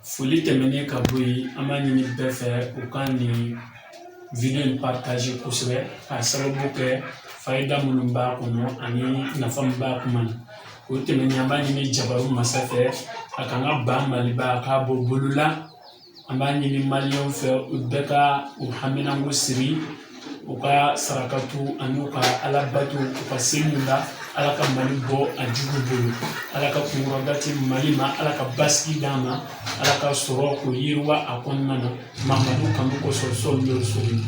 foli tɛmɛnen ka bɔ yen an b'a ɲini bɛɛ fɛ u ka nin video partager kosɛbɛ k'a sababu kɛ fayida minnu b'a kɔnɔ ani nafa min b'a kuma na o tɛmɛnen an b'a ɲini jabaru masa fɛ a k'an ka ba maliba a k'a bɔ bolo la an b'a ɲini maliyɛnw fɛ u bɛɛ ka u haminanko siri u ka sarakatu ani u ka alabato u ka seliw la ala ka mali bɔ a jugu bolo ala ka kunkɔrɔta di mali ma ala ka basigi d'a ma ala ka sɔrɔko yiriwa a kɔnɔna na mamadu kanu kosɔn salalahu alayihi wasalamu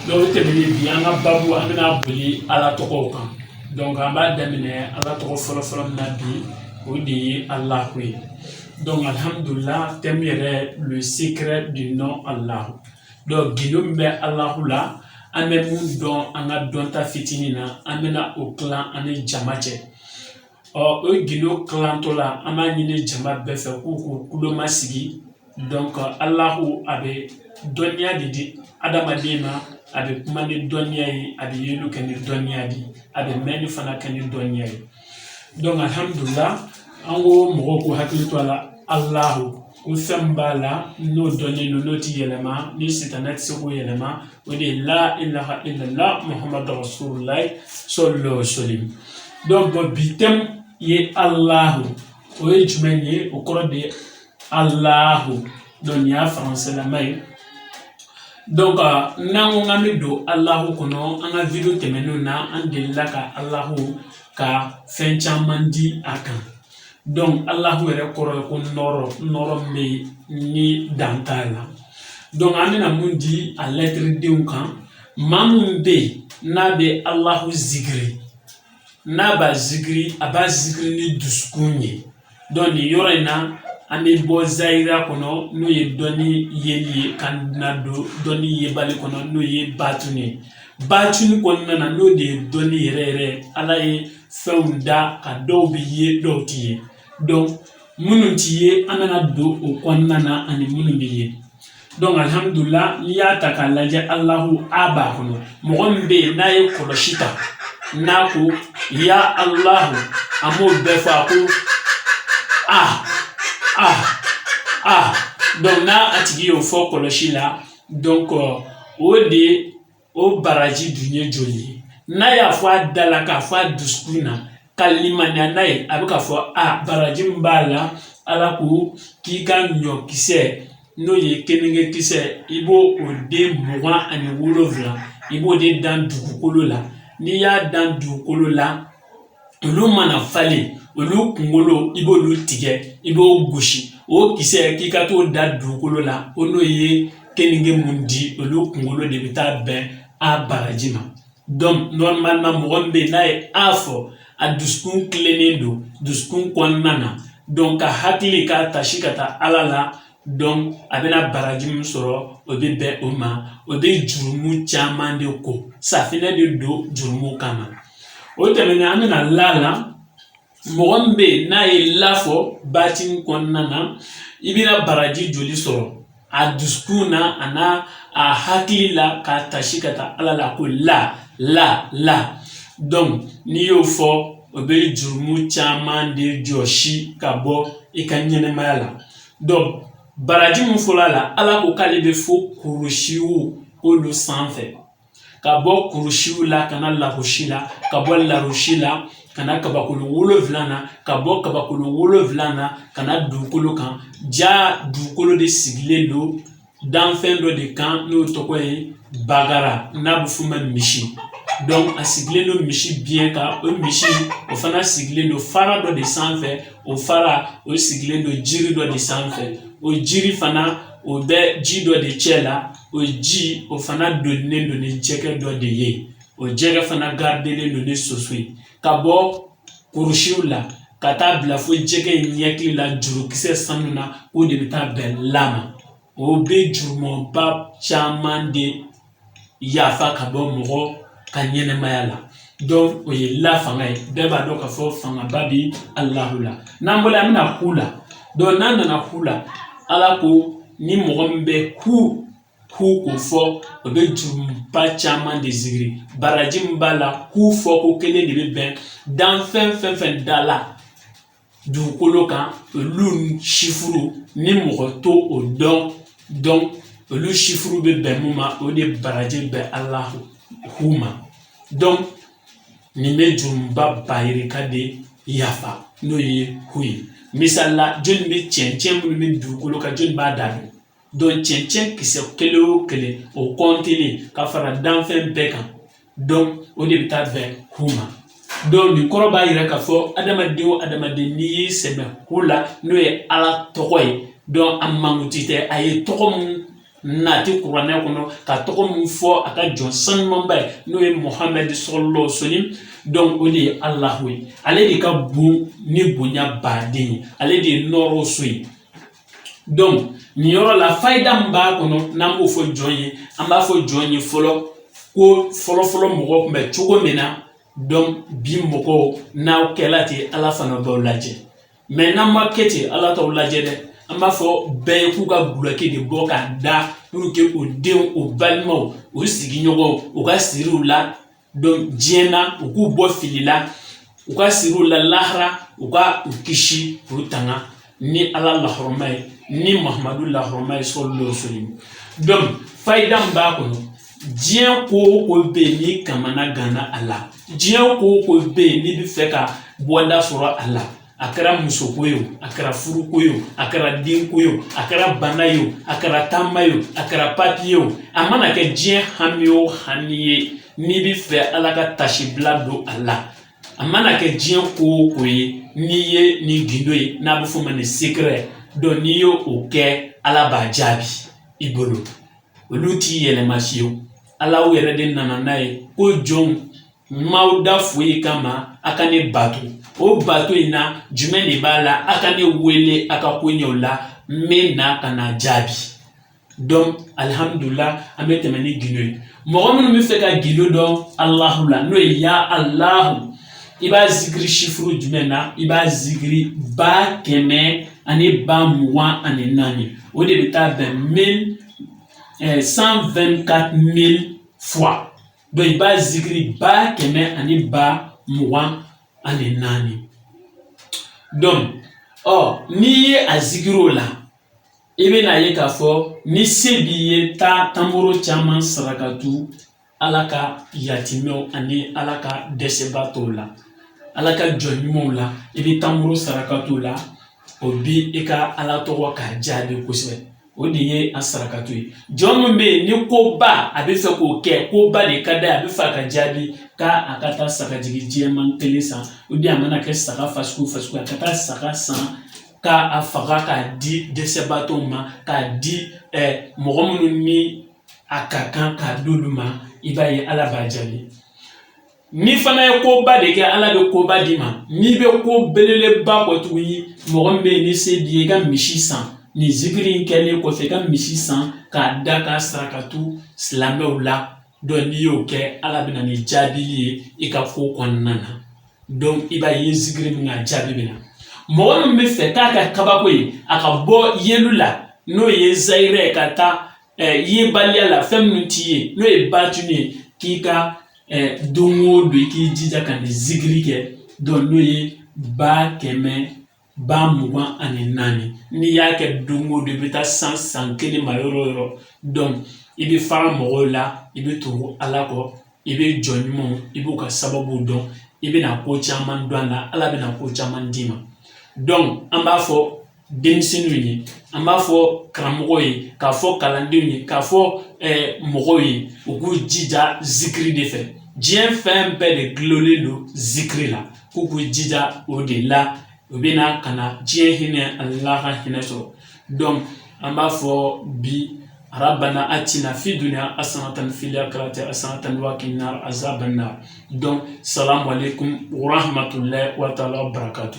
donc o tɛmɛnen bi an ka babu an bɛna boli ala tɔgɔw kan donc an b'a daminɛ ala tɔgɔ fɔlɔfɔlɔ min na bi o de ye alahu ye donc alhamdulillah thème yɛrɛ le secret du nom allah gindo min bɛ alahu la an bɛ min dɔn an ka dɔnta fitinin na an bɛna o kilan an ni jama cɛ ɔ o gindo kilantɔ la an b'a ɲini jama bɛɛ fɛ k'u k'u kulomasigi donc alahu a bɛ dɔnniya de di adamaden ma a bɛ kuma ni dɔnniya ye a bɛ yeli kɛ ni dɔnniya de ye a bɛ mɛnni fana kɛ ni dɔnniya ye alihamudulila an ko mɔgɔw k'u hakili to a la alahu ko fɛn min b'a la n'o dɔnnen don n'o tɛ yɛlɛma ni sitanɛ tɛ se k'o yɛlɛma o de ye la ilaha ilala muhamadu rasululayi salalahu alayihi wasalamu donc bi thème ye alahu o ye jumɛn ye o kɔrɔ de ye alahu donc nin y'a faransɛlama ye donc n'an ko k'an bɛ don alahu kɔnɔ an ka video tɛmɛnenw na an delila ka alahu ka fɛn caman di a kan donc alahu yɛrɛ kɔrɔ ye ko nɔrɔ nɔrɔ min bɛ yen ni dan t'a la donc an bɛna mun di a lɛtiridenw kan maa min bɛ yen n'a bɛ alahu zikiri n'a b'a zikiri a b'a zikiri ni dusukun ye nin yɔrɔ in na an bɛ bɔ zayira kɔnɔ n'o ye dɔnni yeli ye ka na don dɔnni yebali kɔnɔ n'o ye batun ye batun kɔnɔna na n'o de ye dɔnni yɛrɛ yɛrɛ ala ye fɛnw da ka dɔw bi ye dɔw ti ye donc minnu ti ye an bɛna don o kɔnɔna na ani minnu bi ye alihamudulila n'i y'a ta k'a lajɛ alahu a b'a kɔnɔ mɔgɔ min bɛ yen n'a ye kɔlɔsi ta n'a ko ya alahu an b'o bɛɛ fɔ a ko a a a donc n'a a tigi y'o fɔ kɔlɔsi la donc o de o baraji dun ye joli ye n'a y'a fɔ a da la k'a fɔ a dusukun na ka limaniya n'a ye a bɛ k'a fɔ a baraji min b'a la ala ko k'i ka ɲɔkisɛ n'o ye keninge kisɛ i b'o o den mugan ani wolonwula i b'o de dan dugukolo la n'i y'a dan dugukolo la olu mana falen olu kunkolo i b'olu tigɛ i b'o gosi o kisɛ k'i ka t'o da dugukolo la o n'o ye keninge mun di olu kunkolo de bɛ taa bɛn a baraji ma donc normalement mɔgɔ min bɛ n'a ye a fɔ a dusukun tilennen don dusukun kɔnɔna na donc a hakili k'a tasi ka taa ala la a bɛna baraji min sɔrɔ o bɛ bɛn o ma o bɛ jurumu caman de ko safinɛ de don jurumu kama o tɛmɛnen an bɛ na la la mɔgɔ min bɛ n'a ye la fɔ batini kɔnɔna na i bɛna baraji joli sɔrɔ a dusukun na a n'a a hakili la k'a tasi ka taa ala la ko la la la donc n'i y'o fɔ o bɛ jurumu caman de jɔsi ka bɔ i ka ɲɛnɛmaya la baraji min fɔla la ala ko k'ale bɛ fo kurusiw olu sanfɛ ka bɔ kurusiw la ka na larosi la ka bɔ larosi la ka na kabakolo wolonfila na ka bɔ kabakolo wolonfila na ka na dugukolo kan ja dugukolo de sigilen don danfɛn dɔ de kan n'o tɔgɔ ye bakara n'a bɛ f'o ma misi donc a sigilen don misi biɲɛ kan o misi o fana sigilen don fara dɔ de sanfɛ o fara o sigilen don jiri dɔ de sanfɛ o jiri fana o bɛ ji dɔ de cɛ la o ji o fana donilen don ni jɛgɛ dɔ de ye o jɛgɛ fana gardelen don ni soso ye ka bɔ kurusiw la ka taa bila fo jɛgɛ in ɲɛkili la jurukisɛ sanu na o de bɛ taa bɛn la ma o bɛ jurumuba caman de yafa ka bɔ mɔgɔ ka ɲɛnɛmaya la donc o ye la fanga ye bɛɛ b'a dɔn k'a fɔ fangaba bɛ alahu la n'an bɔra an bɛ na hu la donc n'an nana hu la ala ko ni mɔgɔ min bɛ hu k'o fɔ o bɛ jurumuba caman de zikiri baraji min b'a la hu fɔko kelen de bɛ bɛn danfɛn fɛn fɛn dala dugukolo kan olu sifuru ni mɔgɔ t'o dɔn donc olu sifuru bɛ bɛn mun ma o de baraji bɛ alahu hu ma donc nin bɛ jurumuba yirika de yafa n'o ye hu ye misali la jɔni bɛ cɛncɛn minnu bɛ dugukolo kan jɔni b'a da dɔn cɛncɛn kisɛ kelen o kelen o kɔntelen ka fara danfɛn bɛɛ kan donc o de bɛ taa bɛn hu ma donc nin kɔrɔ b'a yira k'a fɔ adamaden o adamaden n'i y'i sɛmɛ hu la n'o ye ala tɔgɔ ye donc a mankutu tɛ a ye tɔgɔ min nati kuranɛ kɔnɔ ka tɔgɔ min fɔ a ka jɔn sanumanba ye n'o ye muhamɛd salalahu alayhi wasalam donc o de ye alahu ye ale de ka bon ni bonya baden ye ale de ye nɔrɔ so ye nin yɔrɔ la fayida min b'a kɔnɔ n'an b'o fɔ jɔn ye an b'a fɔ jɔn ye fɔlɔ ko fɔlɔfɔlɔ mɔgɔw kun bɛ cogo min na donc bi mɔgɔw n'aw kɛla ten ala fana b'aw lajɛ mais n'an ma kɛ ten ala t'aw lajɛ dɛ an b'a fɔ bɛɛ ye k'u ka gulɔki de bɔ k'a da pour que u denw u balimaw u sigiɲɔgɔnw u ka siriw la diɲɛ na u k'u bɔ fili la u ka siri u la lahara u ka u kisi k'u tanga ni ala lahɔrɔma ye ni mahamadu lahɔrɔma ye sallallahu alaihi wasallam donc fayida min b'a kɔnɔ diɲɛ ko o ko bɛ yen n'i kamana ganna a la diɲɛ ko o ko bɛ yen n'i bɛ fɛ ka bɔda sɔrɔ a la a kɛra musoko ye o a kɛra furuko ye o a kɛra denko ye o a kɛra bana ye o a kɛra taama ye o a kɛra papiye o a mana kɛ diɲɛ hami o hami ye n'i bɛ fɛ ala ka tasibila don a la a mana kɛ diɲɛ ko o ko ye n'i ye nin gindo ye n'a bɛ f'o ma ni secret donc n'i ye o kɛ ala b'a jaabi i bolo olu t'i yɛlɛma fiyewu ala yɛrɛ de nana n'a ye ko jɔnw M'aw da foyi kama a ka ne bato o bato in na jumɛn de b'a la a ka ne wele a ka ko ɲɛw la n bɛ na ka na jaabi donc alihamudulila an bɛ tɛmɛ ni gindo ye mɔgɔ minnu bɛ fɛ ka gindo dɔn alahu la n'o ye ya alahu i b'a zikiri chiffre jumɛn na i b'a zikiri ba kɛmɛ ani ba mugan ani naani o de bɛ taa bɛn 124 000 fois donc i b'a zikiri ba kɛmɛ ani ba mugan ani naani donc ɔ n'i ye a zikiri o la i bɛna ye k'a fɔ ni se b'i ye taa tamaro caman sarakatu ala ka yatimɛw ani ala ka dɛsɛbaatɔw la ala ka jɔn ɲumanw la i bɛ tamaro sarakatu la o bi i ka ala tɔgɔ k'a jaabi kosɛbɛ o de ye a sarakato ye jɔn min bɛ yen ni koba a bɛ fɛ k'o kɛ koba de ka d'a ye a bɛ fɛ a ka jaabi k'a a ka taa sagajigi jɛman kelen san o de a mana kɛ saga fasugu fasugu a ka taa saga san k'a faga k'a di dɛsɛbaatɔw ma k'a di mɔgɔ minnu ni a ka kan k'a d'olu ma i b'a ye ala b'a jaabi n'i fana ye koba de kɛ ala bɛ koba d'i ma n'i bɛ ko belebeleba kɔ tuguni mɔgɔ min bɛ yen ni se b'i ye i ka misi san nin zikiri in kɛlen kɔfɛ i ka misi san k'a da ka sarakatu silamɛw la donc n'i y'o kɛ ala bɛ na ni jaabili ye i ka ko kɔnɔna na donc i b'a ye zikiri min ka jaabi bɛ na mɔgɔ min bɛ fɛ k'a ka kabako ye a ka bɔ yeli la n'o ye zayirɛ ka taa yebaliya la fɛn minnu t'i ye n'o ye batini ye k'i ka don o don i k'i jija ka nin zikiri kɛ donc n'o ye ba kɛmɛ ba mugan ani naani n'i y'a kɛ don o don i bɛ taa san san kelen ma yɔrɔ o yɔrɔ donc i bɛ fara mɔgɔw la i bɛ tugu ala kɔ i bɛ jɔn ɲumanw i b'u ka sababu dɔn i bɛna ko caman dɔn a la ala bɛna ko caman d'i ma donc an b'a fɔ denmisɛnninw ye an b'a fɔ karamɔgɔw ye k'a fɔ kalandenw ye k'a fɔ mɔgɔw ye u k'u jija zikiri de fɛ diɲɛ fɛn bɛɛ de gulonlen don zikiri la k'u k'u jija o de la u bɛna ka na diɲɛ hinɛ ani lahara hinɛ sɔrɔ donc an b'a fɔ bi rabana atina fi dunya hasanatan fil akirati hasanatan wa kina azaban nar donc salam alekum wa rahmatulahi wa taala barakatu